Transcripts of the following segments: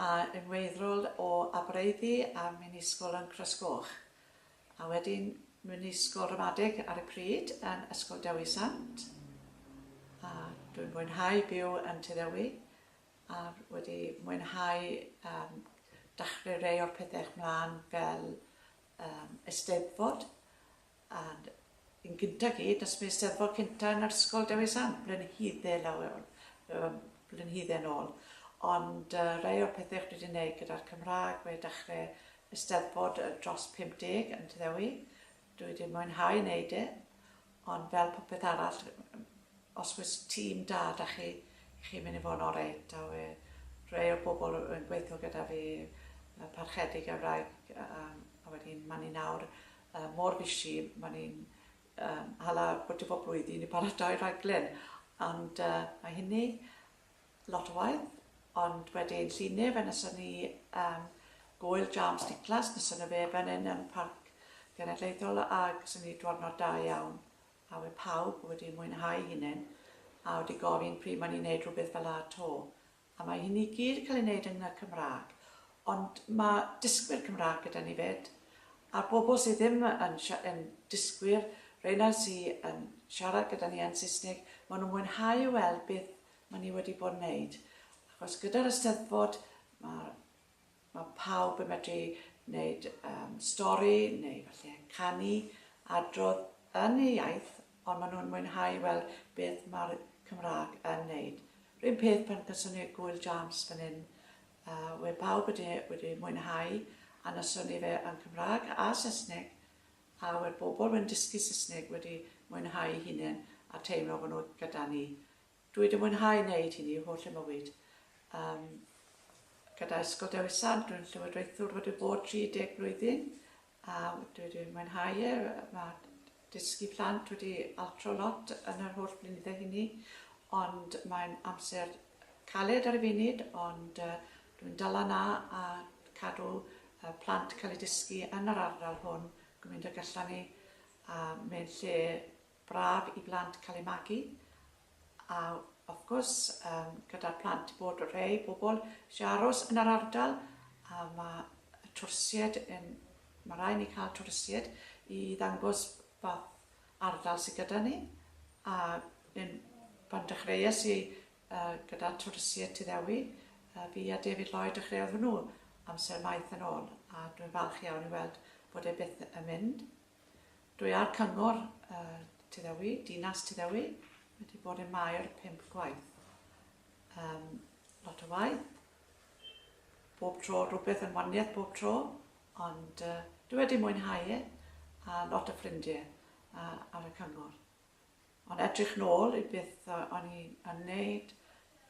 a yn weithdrol o Abereiddi a Mynysgol yn Croesgoch, a wedyn mewn ysgol ramadeg ar y pryd yn Ysgol Dewi Sant, a dwi'n mwynhau byw yn Tŷ Ddewi, a wedi mwynhau yym dachre rei o'r pethech mlan fel yym Eisteddfod, Ond yn gyntaf gyd, does dim Eisteddfod cynta yn yr ysgol Dewi Sant, blenhydde lawer, yym, blenhydde yn ôl. Ond yy rhai o'r pethe o'ch chi 'di neud gyda'r Cymrâg, mae dachre Eisteddfod yy dros 50 yn Tŷ Ddewi. Dwi 'di mwynhau neud e, ond fel popeth arall, os oes tîm da 'da chi, chi'n mynd i fod yn orêt. A we' rhei o'r bobl yn gweitho gyda fi, y Parchedig a'r wraig, yym, a wedyn 'ma ni nawr. mor busy, mae ni'n hala bwyta bob blwyddyn i paratoi rhaglen, ond mae hynny lot o waith, ond wedyn llun ne fe nesa ni am gwyl James Niclas, nesa na fe fan hyn yn Parc Genedlaethol ag sy'n ni dwrnod da iawn a we pawb wedi mwynhau hunain a wedi gofyn pryd mae ni'n neud rhywbeth fel a to, A mae hyn i gyd yn cael ei wneud yn y Cymraeg. Ond mae dysgwyr Cymraeg gyda ni 'fyd. A'r bobl sydd ddim yn yn dysgwyr, rheina sy yn siarad gyda ni yn Saesneg, maen nhw'n mwynhau weld beth maen ni wedi bod yn wneud. Achos gyda'r Eisteddfod, mae'r Mae pawb yn medru wneud stori neu efallai canu, adrodd yn eu iaith ond maen nhw'n mwynhau weld beth mae'r Cymraeg yn wneud. R'un peth pan gawson ni'r Gŵyl Jams fan hyn, we pawb wedi wedi mwynhau a noson ni fe yn Cymraeg a Saesneg a we'r bobl wedyn dysgu Saesneg wedi mwynhau hunain a teimlo bod nhw gyda ni. Dw i 'di mwynhau wneud hynny holl fy mywyd. Yym gyda Ysgol Dewi Sant, dwi'n llywodraethwr wedi bod 30 blwyddyn a dwi wedi mwynhau e. Mae dysgu plant wedi altro lot yn yr holl blynydde hynny, ond mae'n amser caled ar y funud, ond uh, dwi'n dal yna a cadw uh, plant cael eu dysgu yn yr ardal hwn gymaint ag allan ni, a mae'n lle Braf i blant cael eu magu a wrth gwrs yym gyda'r plant bod rhei pobl eisiau aros yn yr ardal a mae y twrsied yn... mae rhaid ni cael twrsied i ddangos fath ardal sydd gyda ni a yn... pan dechreuais i yy gyda twrsied Tŷ Ddewi yy fi a David Lloyd dechreuodd hwnnw amser maith yn ôl a dwi'n falch iawn i weld bod e byth yn mynd. Dwi ar Cyngor Tyddewi, Dinas Tyddewi, wedi bod yn Maer pump gwaith. Um, lot o waith, bob tro rhywbeth yn waniaeth bob tro, ond uh, dwi wedi mwynhau e, a lot o ffrindiau uh, ar y cyngor. Ond edrych nôl i beth o'n i yn neud,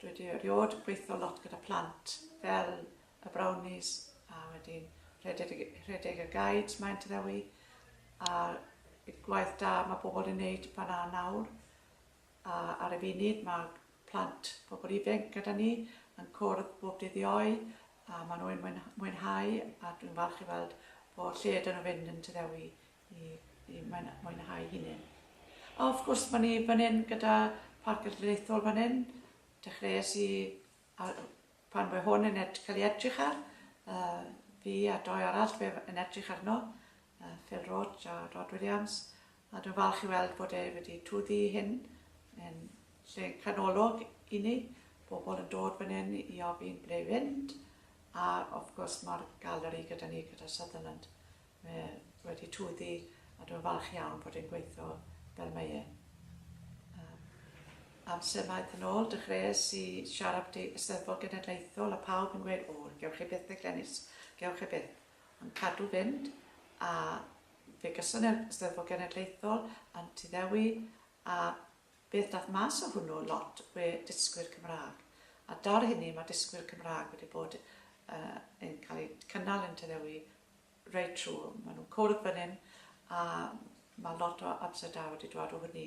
dwi 'di eriod yn gweithio lot gyda plant fel y Brownies a wedyn rhedeg, rhedeg y guides mae'n trewi a y gwaith da mae pobl yn neud fan a nawr a ar y funud mae plant pobl ifanc gyda ni yn cwrdd bob dydd ioe a maen nhw'n mwynhau a dwi'n falch i weld bod lle dyn nhw fynd yn tyddewi i, i mwynhau hunain. A wrth gwrs, mae ni fan hyn gyda Parc Ydreithol fan hyn. Dechreuais i a, pan mae hwn yn ed, cael ei edrych ar, uh, fi a doi arall fe yn edrych arno, uh, Phil Roach a Rod Williams, a dwi'n falch i weld bod e wedi twyddi hyn yn lle canolog i ni, bobl yn dod fan hyn i ofyn ble fynd, a of gwrs mae'r galeri gyda ni gyda Sutherland. Mae e wedi twddu a dwi'n falch iawn fod e'n gweithio fel mae e. Am amser maith yn ôl, dechreuais i siarad byti Eisteddfod Genedlaethol a pawb yn gweud, o, gewch chi byth dde Glenys, gewch chi byth. Ond cadw fynd, a fe gyson e'r Eisteddfod Genedlaethol yn Tŷ Ddewi, a beth dath mas o hwnnw lot we dysgwyr Cymraeg. A dar hynny mae dysgwyr Cymraeg wedi bod uh, yn cael eu cynnal yn Tŷ Ddewi reit trwm. Maen nhw'n cwrdd fan hyn a mae lot o ups a down wedi dod o hynny.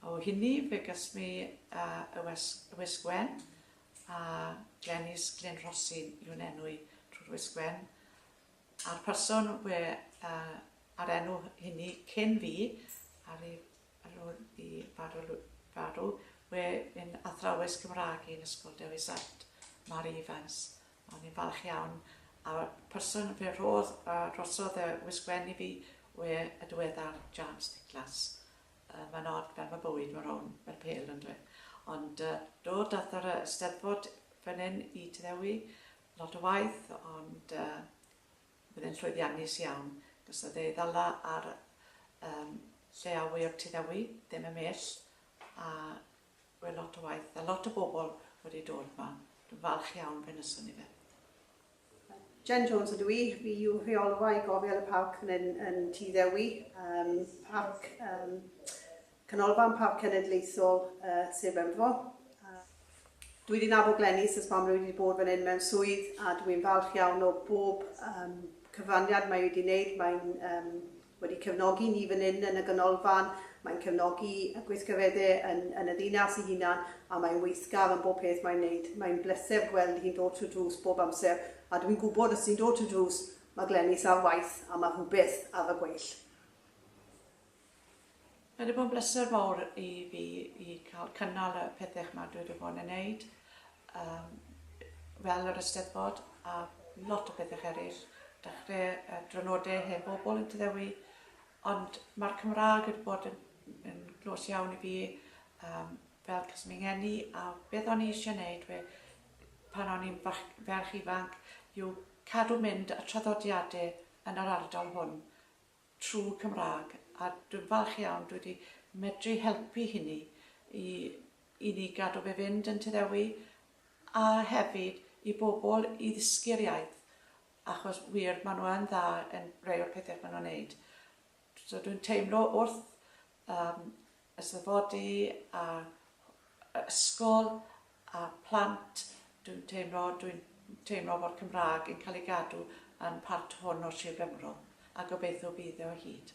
A o hynny fe gas mi uh, y West Gwen a Glenys Glyn Rhosyn yw'n enw i trwy'r West Gwen. A'r person we, uh, a'r enw hynny cyn fi ar ei ar ôl i farw, farw we yn athrawes Cymraeg i'n ysgol Dewi Sant, Mary Evans. O'n i'n falch iawn, a'r person fe rhodd a drosodd y wisgwen i fi we y diweddar James Nicholas. Uh, mae'n od fel mae bywyd mor rown fel pel yn dweud. Ond uh, do, dath yr ysteddfod fan hyn i Tyddewi lot o waith, ond uh, bydd e'n llwyddiannus iawn. Gos oedd ei ddala ar um, lle awy o'r Tyddewi, ddim y mell, a Wel lot o waith a lot o bobl wedi dod ma. Dwi'n falch iawn fe wnaethon ni fe. Jen Jones ydw i, fi yw rheolwai gofel y parc fan hyn yn Tŷ Ddewi, um, parc, um, canolfan parc cenedlaethol uh, Sir Benfro. Uh, dwi wedi nabod Glenys ys pam rwy wedi bod fan hyn mewn swydd a dwi'n falch iawn o bob um, cyfraniad mae wedi wneud, mae'n um, wedi cefnogi ni fan hyn yn y Ganolfan, mae'n cefnogi y gweithgareddau yn yn y ddinas ei hunan, a mae'n weithgar yn bob peth mae'n wneud. Mae'n bleser gweld hi'n dod trwy'r drws bob amser, a dwi'n gwybod os ti'n dod trwy'r drws, mae Glenys ar waith a mae rhywbeth ar y gweill. Mae 'di bod yn bleser mawr i fi i cael cynnal y pethau 'ma dwi 'di bod yn neud yym fel yr Eisteddfod a lot o bethau eraill, dechrau y Drynoddau Hen Bobl yn Tŷ Ddewi, ond mae'r Cymraeg wedi bod yn yn glòs iawn i fi yym fel achos fy ngeni a beth o'n i eisiau neud we- pan o'n i'n fach- ferch ifanc yw cadw mynd y traddodiadau yn yr ardal hwn. trwy Cymraeg a dwi'n falch iawn dwi wedi medru helpu hynny i i ni gadw fe fynd yn Tŷ Ddewi a hefyd i bobl i ddysgu'r iaith achos wir maen nhw yn dda yn rhai o'r pethau maen nhw'n wneud. So dwi'n teimlo wrth yym y safodi a yy ysgol a plant dwi'n teimlo dwi'n teimlo fod Cymraeg yn cael ei gadw yn part hwn o Sir Benfro a gobeithio bydd e o hyd.